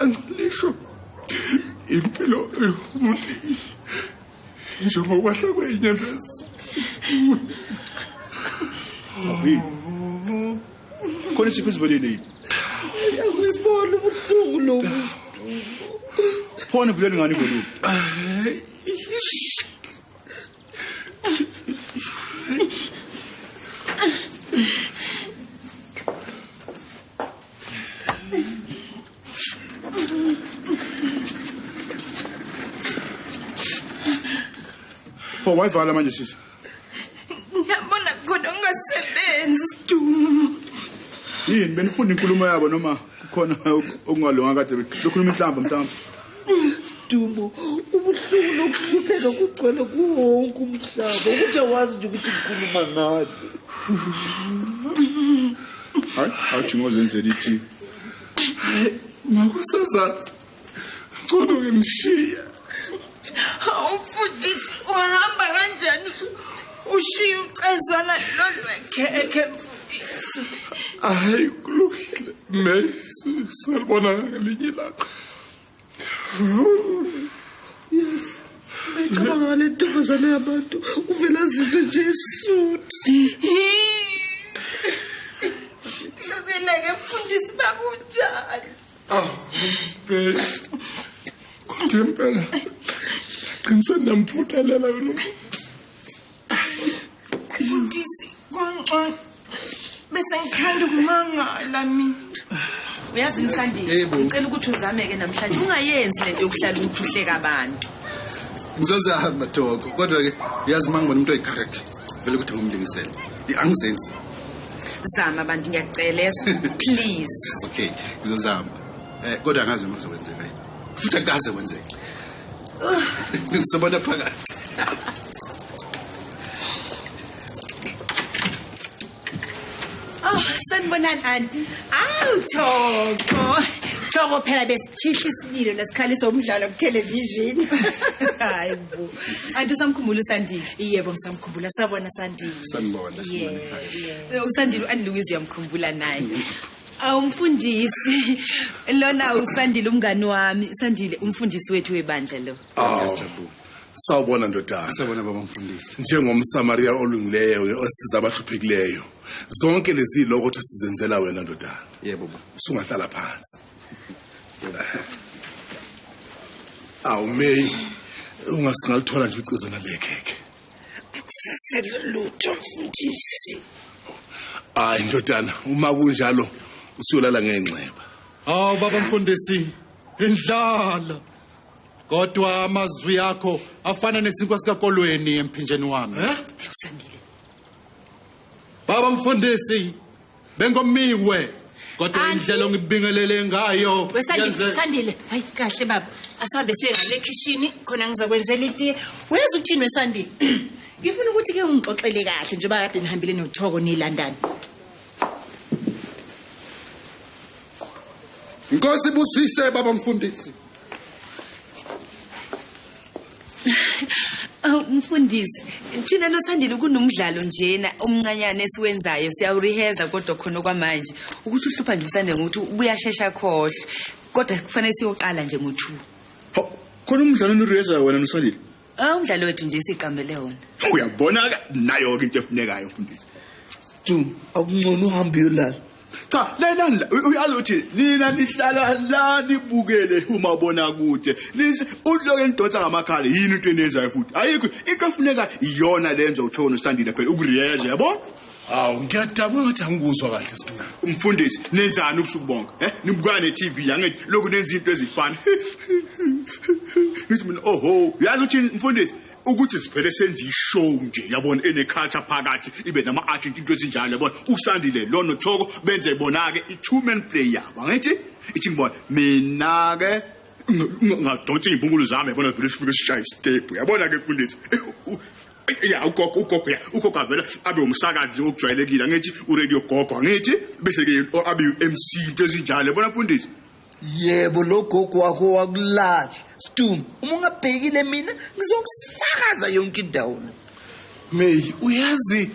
Angilisho impilo yomuntu njengokwahla kwenyembezi. Khona isifo esivelele yini? Uyabona ubuhlungu lobu. Phone vele ngani ngolu. Pho wayivala manje sisi. Ngiyabona kodwa ungasebenzi sidumo. Yini benifunda inkulumo yabo noma kukhona okungalunga kade bekhuluma inhlamba mhlawumbe? Dumo, ubuhlungu nokuhlupheka kugcwele kuwo wonke umhlaba. Ukuthi awazi nje ukuthi ngikhuluma ngani. Hayi, awuthi ngozenzela ithi. Makusazathu. Ngcono ngimshiye. Hawu mfundisi, uhamba kanjani? Ushiye ucezwana lolwekhekhe mfundisi. Hayi kulungile. Mesi, salibona ngelinye ilanga. yes ayicabanga ngale ntombazane yabantu uvele azizwe nje esuthi Ngeke mfundisi bakunjani? Aw, babe. Kodwa impela qinisweni namphuthelela yona. Mfundisi kwangcono bese ngithanda ukumangala mina. Uyazi Msandile, Yebo. ngicela ukuthi uzameke namhlanje ungayenzi lento yokuhlala ukuthi uhleka abantu. ngizozama toko kodwa-ke uyazi uma ngibona umuntu oyi-character vele ukuthi ngumlingisele angizenzi Zama abantu ngiyakucela yeso. Please. okay ngizozama um kodwa angazi noma kuzokwenzeka yini futhi akukaze kwenzeka Ngisabona phakathi. Oh, sanibonani anti. Awu Thoko. Thoko phela besithihla isililo nesikhaliso umdlalo ku television. Hayi bo. Anti usamkhumbula uSandile. Yebo ngisamkhumbula sabona Sandile. Sanibona, sanibona Yeah, ekhaya. yeah. Eh, USandile uAndiluiz uyamkhumbula naye. awumfundisi lona usandile umngani wami sandile umfundisi wethu webandla lo Ngiyajabula. sawubona ndodana Sawubona baba mfundisi. njengomsamariya olungileyo-ke osiza abahluphekileyo zonke lezi loko thi sizenzela wena ndodana Yebo baba. usungahlala phansi awumeyi ungasingalithola nje ucezo nalekhekhe akusasele lutho mfundisi hayi ndodana uma kunjalo usuyolala ngenxeba hawu baba mfundisi indlala kodwa amazwi akho afana nesinkwa sikakolweni emphinjeni wami eh? baba mfundisi bengomiwe kodwa Andile. indlela ongibingelele ngayo We Sandile, yenze- Sandile. Hayi kahle baba. Asihambe siye ngale ekhishini khona ngizokwenzela itiye. Uyazi ukuthini weSandile? Ngifuna ukuthi ke ungixoxele kahle njengoba kade nihambile noThoko nilandana. inkosi busise baba mfundisi Aw mfundisi, thina nosandile kunomdlalo njena omncanyane esiwenzayo siyawureheza kodwa khona kwamanje ukuthi uhlupha nje usande ngokuthi ubuyashesha khohle kodwa kufanele siyoqala nje ngo2. Hawu, khona umdlalo onirehezayo wena nosandile Ah umdlalo wethu nje siqambele wona. Uyabona ke nayo ke into efunekayo mfundisi. Du, akuncono uhambe uyolala. Cha, lena uyaluthi nina nihlala la nibukele uma bona kude. Lisi uloke nidonsa ngamakhala yini into enezayo futhi. Ayikho into efuneka iyona lenza uthona usandile phela ukuriyeza yabona? Hawu ngiyadabula ngathi angikuzwa kahle siduna. Umfundisi nenzani ubusuku bonke? Eh nibukana neTV yangithi lokhu nenza izinto ezifana. Ngithi mina oho uyazi ukuthi mfundisi ukuthi sivele senze ishow nje yabona ene culture phakathi ibe nama art into ezinjalo yabona usandile lono thoko benze bona ke i two man play yabo ngithi ithi ngibona mina ke ngadonsa izimpungulu zami yabona vele sifike sishaya istep yabona ke mfundisi ya ugogo ugogo ya ugogo avela abe umsakazi okujwayelekile angithi uradio gogo angithi bese ke abe uMC into ezinjalo bona mfundisi yebo lo gogo wakho wakulatsha stum uma ungabhekile mina ngizokusakaza yonke indawo may uyazi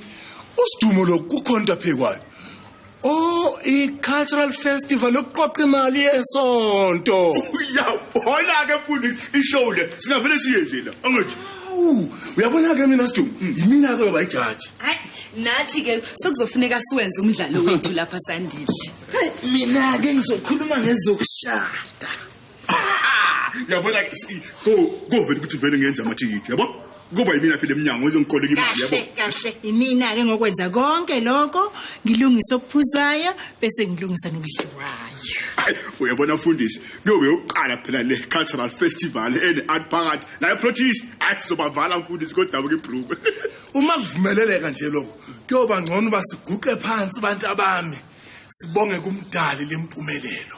usidumo lokukhonta phekwayo Oh, i-cultural festival ukuqoqa imali yesonto. Uyabona ke mfundisi ishow le singavele siyenze la. Angithi. Uyabona ke mina Sdu, mm. yimina ke baba ijaji. Hayi, nathi ke sekuzofuneka siwenze umdlalo wethu lapha sandile. Mina ke ngizokhuluma ngezokushada. yabona so kovela ukuthi vele ngenza amathikiti yabo kuba yimina phela eminyango ezongikoleka imali yabo kahle imina ke ngokwenza konke lokho ngilungisa okuphuzwayo bese ngilungisa nokudliwayo uyabona mfundisi kuyobe uqala phela le cultural festival ene art phakathi la protease athi sizobavala mfundisi kodwa ke broom uma kuvumeleleka nje lokho kuyoba ngcono basiguqe phansi abantu abami sibonge kumdali lempumelelo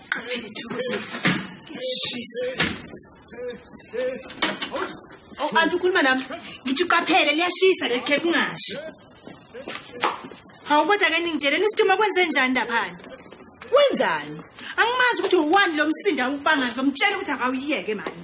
Oh, anti ukhuluma nami ngithi uqaphele liyashisa leli khepha ungashi hawu kodwa ke ningitsheleni usituma kwenze njani laphana wenzani angimazi ukuthi uwani lo msindo awubanga ngizomtshela ukuthi akawuyeke mani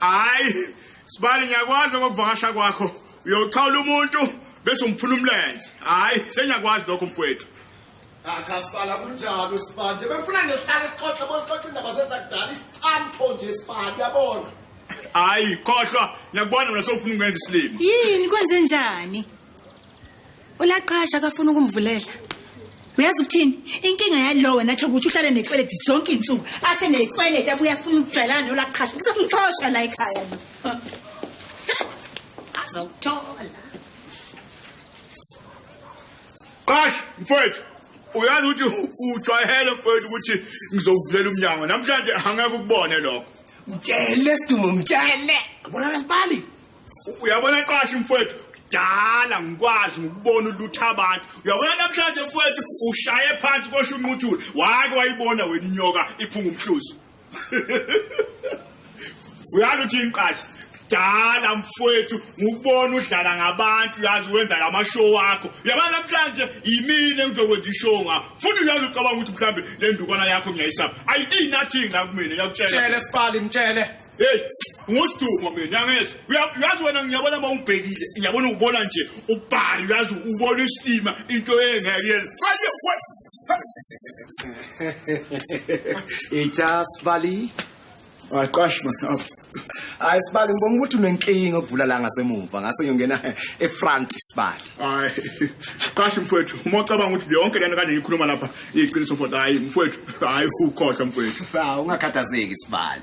hayi sibali ngiyakwazi ngokuvakasha kwakho uyochawula umuntu bese umphula umlenze hayi sengiyakwazi lokho mfowethu akasala ah, kunjalo sibanje befuna nje sihlale sixoxe bosixoxe indaba zenza kudala isicamtho nje sibali yabona hayi khohlwa ngiyakubona mina sofuna ukwenza isilima yini kwenze njani Ulaqasha akafuna ukumvulela. Uyazi ukuthini? Inkinga yalo wena tsho ukuthi uhlale nekweledi zonke insuku. Athe nekweledi abuye afuna ukujwayelana nolaqasha. Kusakuxosha la ekhaya. Azawuthola. Qasha mfowethu uyazi ukuthi ujwayele mfowethu ukuthi ngizokuvulela umnyango namhlanje angeke ukubone lokho. Mtshele Sidumo mtshele. Yabona lesibali. uyabona qashi mfowethu dala ngikwazi ngikubona ulutha abantu uyabona namhlanje mfowethu ushaye phansi kosho unquthula wake wayibona wena inyoka iphunga umhluzi uyazi uthi inqashi dala mfowethu ngikubona udlala ngabantu uyazi wenza lamashow wakho uyabona namhlanje yimina engizokwenza ishow ngakho futhi uyazi ucabanga ukuthi mhlawumbe le ndukwana yakho ngiyayisaba ayidii nothing la kumina yakutshela mtshele sibali mtshele Hey, ngusiduma mina ngezwe. Uyazi wena ngiyabona uma ungibhekile, ngiyabona ubona nje ubhari, uyazi ubona isilima into engeke yenze. Manje we. Ithas Bali. Aqash mfana. Hayi sibali ngibona ukuthi unenkinga okuvula la ngasemuva ngase ngiyongena efront sibali. Hayi. Qash mfowethu, uma ucabanga ukuthi yonke lento kanje ngikhuluma lapha iqiniso mfowethu. Hayi mfowethu, hayi ukhohlwa mfowethu. Hawu ungakhathazeki sibali.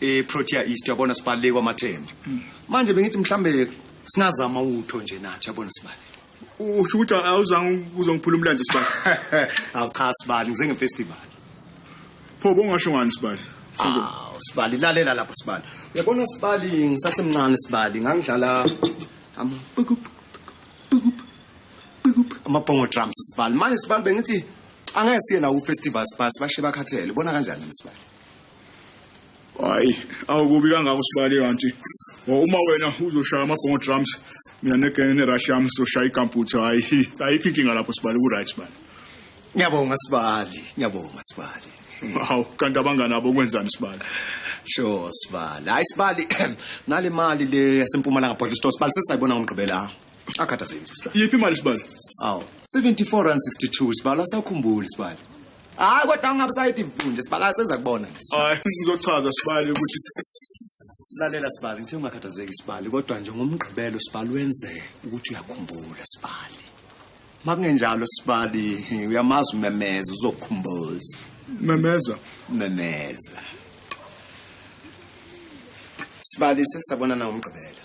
eProtea East yabona sibaleke kwamathemba manje bengithi mhlambe singazama utho nje nathi yabona sibali usho ukuthi awuzange uzongiphula umlanje sibali awu cha sibali ngize ngefestival pho bongasho ngani sibali awu sibali lalela lapha sibali uyabona sibali ngisasemncane sibali ngangidlala ama pikup pikup pikup ama bongo drums sibali manje sibali bengithi angeke siye nawo ufestival sibali sibashe bakhathele bona kanjani sibali hayi awukubi kangako sibali kanti Oh, uma wena uzoshaya amabhongo drums mina negenge nerush yami sizoshaya ikamputha hayi ayikho inkinga lapho sibali ku-right sibali ngiyabonga sibali ngiyabonga sibali hawu kanti abangani abo kwenzani sibali sure sibali hayi sibali nale mali le yasempumalanga bottle store sibali sesayibona ngomgqibela akhathazekile sibali yiphi imali sibali awu 74 rand 62 sibali asakhumbuli sibali hayi kodwa ungabe sayidi vunje sibala seza kubona hayi ngizochaza sibali ukuthi lalela sibali ngithe ungakhathazeki sibali kodwa nje ngomgqibelo sibali wenze ukuthi uyakhumbula sibali makungenjalo sibali uyamazi umemeza uzokhumbuza memeza memeza sibali sesabonana ngomgqibelo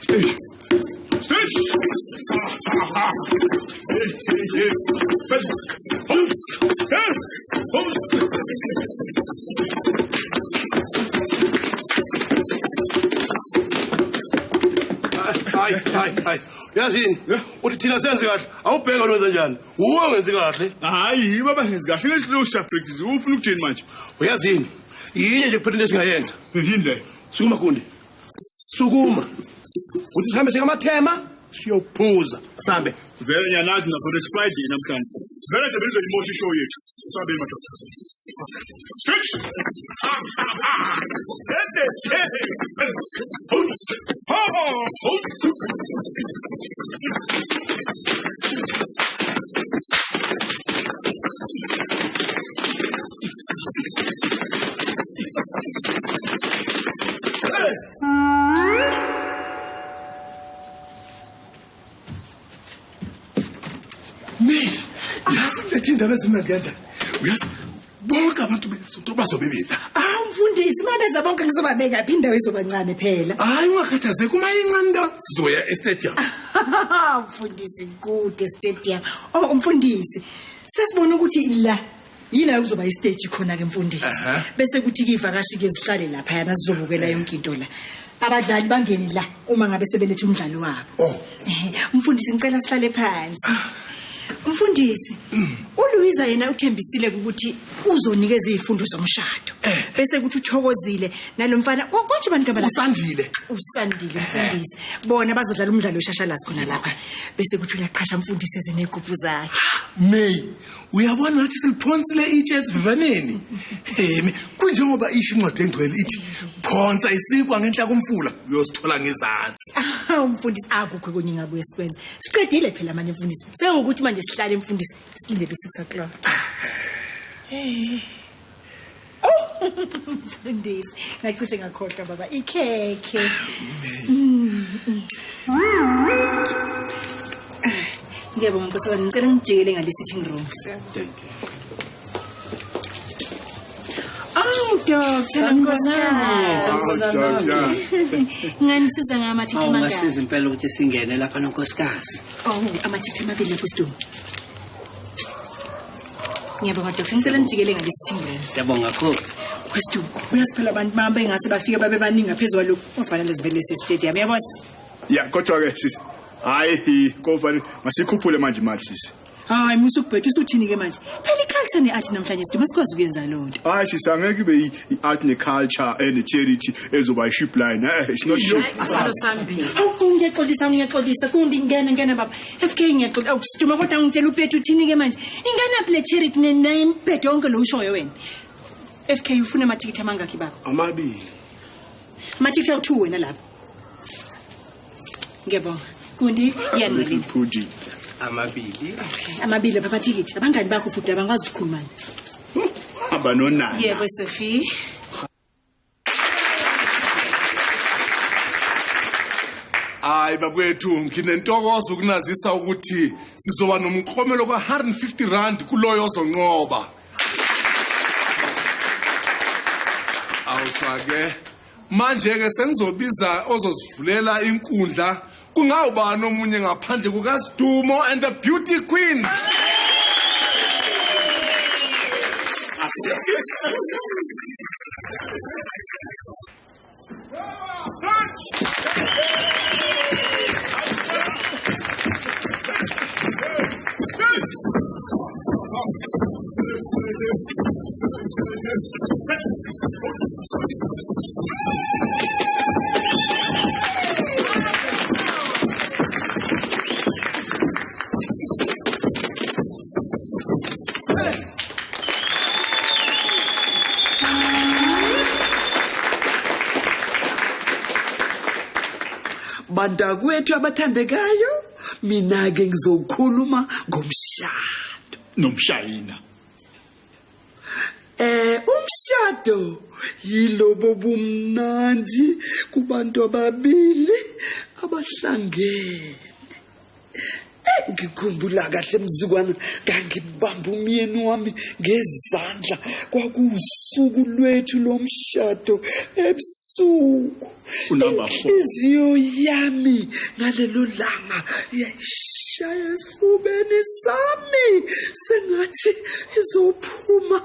Stage. Stage. hayi hayi hayi yazini uthi thina senze kahle awubheka lona wenza njani wuwe ongenzi kahle hayi yibo abangenzi kahle lesilo shabricks ufuna ukuthini manje uyazini yini nje kuphela into esingayenza yini leyo sukuma kundi sukuma uthi sihambe sikamathema siyophuza sambe vele nyanazi nakhona it's friday namhlanje vele nje benizeyimosha ishow yethu sambe madoda Oh! Me, yazi ngilethe indaba ezimnandi kanjani. Uyazi bonke abantu besonto bazobe bela. Ah mfundisi mabeza bonke ngizobabeka phi indawo izobancane phela. Hayi ungakhathazeki uma incane into sizoya estadium. Mfundisi kude stadium. Oh umfundisi sesibona ukuthi la yila kuzoba istage khona ke mfundisi Aha. bese kuthi ke ivakashi ke zihlale lapha yana sizobukela yonke into la abadlali bangeni la uma ngabe sebelethe umdlalo wabo Oh. Ehe, umfundisi ngicela sihlale phansi umfundisi uluyiza yena uthembisile ukuthi uzonikeza izifundo zomshado bese kuthi uthokozile nalo mfana ko- konje abantu abala Usandile. usandile mfundisi bona bazodlala umdlalo weshashalazi khona lapha bese kuthi uyaqhasha mfundisi ezenegubhu zakhe May uyabona ngathi siliphonsile itshe esivivaneni emi kunjengoba isho incwadi engcwele ithi phonsa isikwa ngenhla komfula uyosithola ngezansi Ah, umfundisi akukho kunye ngabuye sikwenze siqedile phela manje mfundisi sewukuthi manje sihlale mfundisi silindele u-six o'clock mfundisi ngacishe ngakhohlwa baba ikhekhe ngiyabonga nkosazana ngicela ngijikele ngale-sitting room Oh, doctor, nganisiza ngama-chithi amangaki? awungasiza impela ukuthi singene lapha nonkosikazi Oh, ama-chithi amabili lapho sidumi. ngiyabonga doctor ngicela nijikele ngalesithimbulela siyabonga kakhulu wesitu uyasiphela abantu bami bengase bafike babe baningi ngaphezu kwalokhu ofanele zivele sesitadium yabona ya kodwa-ke sisi hhayi kofanele masikhuphule manje imali sisi hayi musa ukubhetha usuthini-ke manje phela i-culture ne-art namhlanje sidume sikwazi ukuyenza loo nto hhayi sisi angeke ibe i- i-art ne-culture ene-charity ezoba i-ship line eh, it's not ship. asalo sambili ngiyaxolisa ngiyaxolisa kundi ngene ngene baba FK ngiyaqola awukusituma kodwa ngitshela uPethu uthini ke manje? Inganaphi le charity naye imphethe yonke lo ushoyo wena? FK ufuna amathikithi amangakhi baba? Amabili. Amathikithi awu2 wena lapho. Ngiyabonga. Kundi yanelina. Fuji. Amabili. Amabili baba thikithi. Abangani bakho futhi abangwazi ukukhuluma. Abanonana. Yebo Sophie. hayi bakwethu nginentokozo ukunazisa ukuthi sizoba nomklomelo kwa-150 rand kuloyo ozonqoba awusake manje-ke sengizobiza ozosivulela inkundla kungawubani omunye ngaphandle kukasidumo and the beauty queen bantakwethu abathandekayo mina ke ngizokhuluma ngomshado nomshayina eh umshado yilobo bumnandi kubantu ababili abahlangene eh, ngikhumbula kahle mzukwana ngangibamba umyeni wami ngezandla kwakuwusuku lwethu lomshado ebusuku unumber 4 inhliziyo yami ngalelo langa yayishaya esifubeni sami sengathi izophuma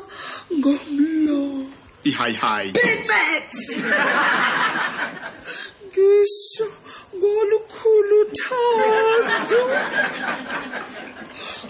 ngomlomo ihayi hayi big max ngisho ngolukhulu thando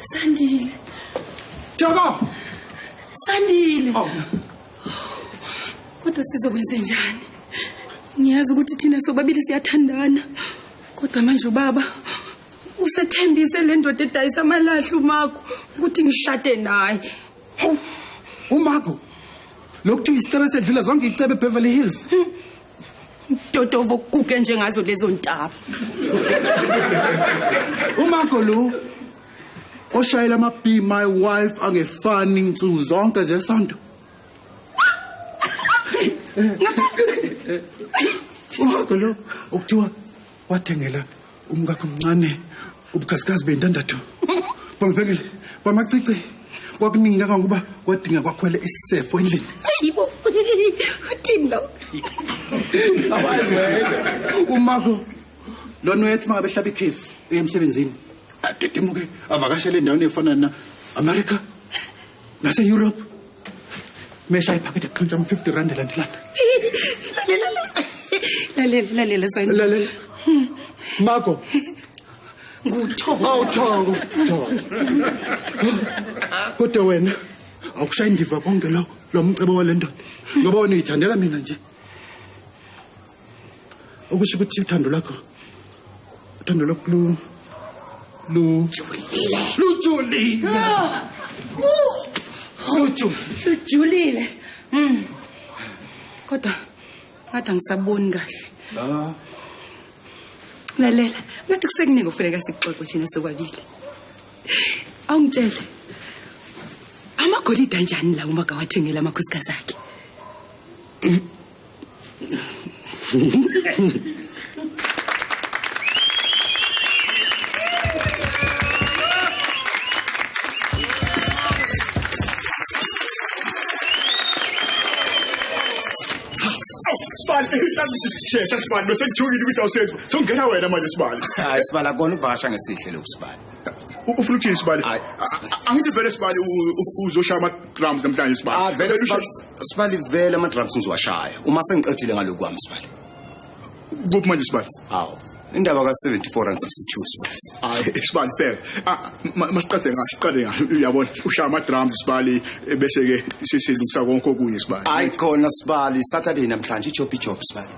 Sandile. Joko. Sandile. Oh. Kodwa sizokwenze njani? Ngiyazi ukuthi thina sobabili siyathandana. Kodwa manje ubaba usethembise le ndoda edayisa amalahle uMago ukuthi ngishade naye. Hawu. Umago. Lokuthiwa isicebe sedlula zonke icebe eBeverly Hills. Hmm. Dodovo kuke njengazo lezo ntaba. Umagolu oshayela ama be my wife angefani insuku zonke zesonto. Umagolu ukuthiwa wathengela umkakho mncane ubukhazikhazi beyintandathu bambhekile bamacici kwakuningi kangangokuba kwadinga kwakhwele isisefo endlini yibo uthini lo awazi wena umako lona uyethi makabehlaba ikhefu uye emsebenzini adedemuke avakashele endaweni efana na-amerika nase-europe mesha iphakethe kuqhintsha ama 50 rand elandelana lalela lalela lalela sani lalela hmm. mako nguthongo awuthongo kodwa wena awukushayi ngiva konke lo lo mcebo wale ndoda ngoba wena uyithandela mina nje okusho ukuthi uthando lakho uthando lakho lu lu lujulile luju lujulile mm kodwa ngathi angisaboni kahle la lalela ngathi kusekuningi okufuneka sikuxoxe thina sokwabili awungitshele amagolide anjani la uma gawathengela amakhosikazi akhe Shesha sibani bese kuthukile ukuthi awusenzi. Songena wena manje sibani. Hayi sibani akona ukuvakasha ngesihle lokhu sibani. U- Ufuna ukuthini sibani? Hayi. A- a- Angithi vele sibani u- u- uzoshaya ama drums namhlanje sibani. Ah, vele Vele sibani. usha- Sibali vele ama drums ngiziwashaya uma sengiqedile ngaloku kwami Sibali. Kuphi manje Sibali? Hawu. Indaba ka 74 rand 62 Sibali. Hayi Sibali phela. Ah masiqede ngathi siqale ngathi uyabona ushaya ama drums Sibali eh, bese ke sisilungisa konke okunye Sibali. Hayi khona Sibali Saturday namhlanje ijob ijob Sibali.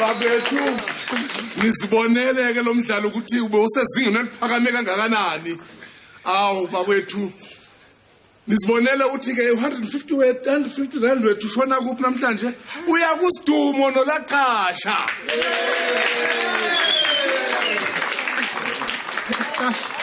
babethu nizibonele-ke lo mdlalo ukuthi ube usezingeni eliphakame kangakanani awu bakwethu nizibonele ukuthi-ke u-150 we-150 rand wethu ushona kuphi namhlanje uya kusidumo nolaqasha Gosh.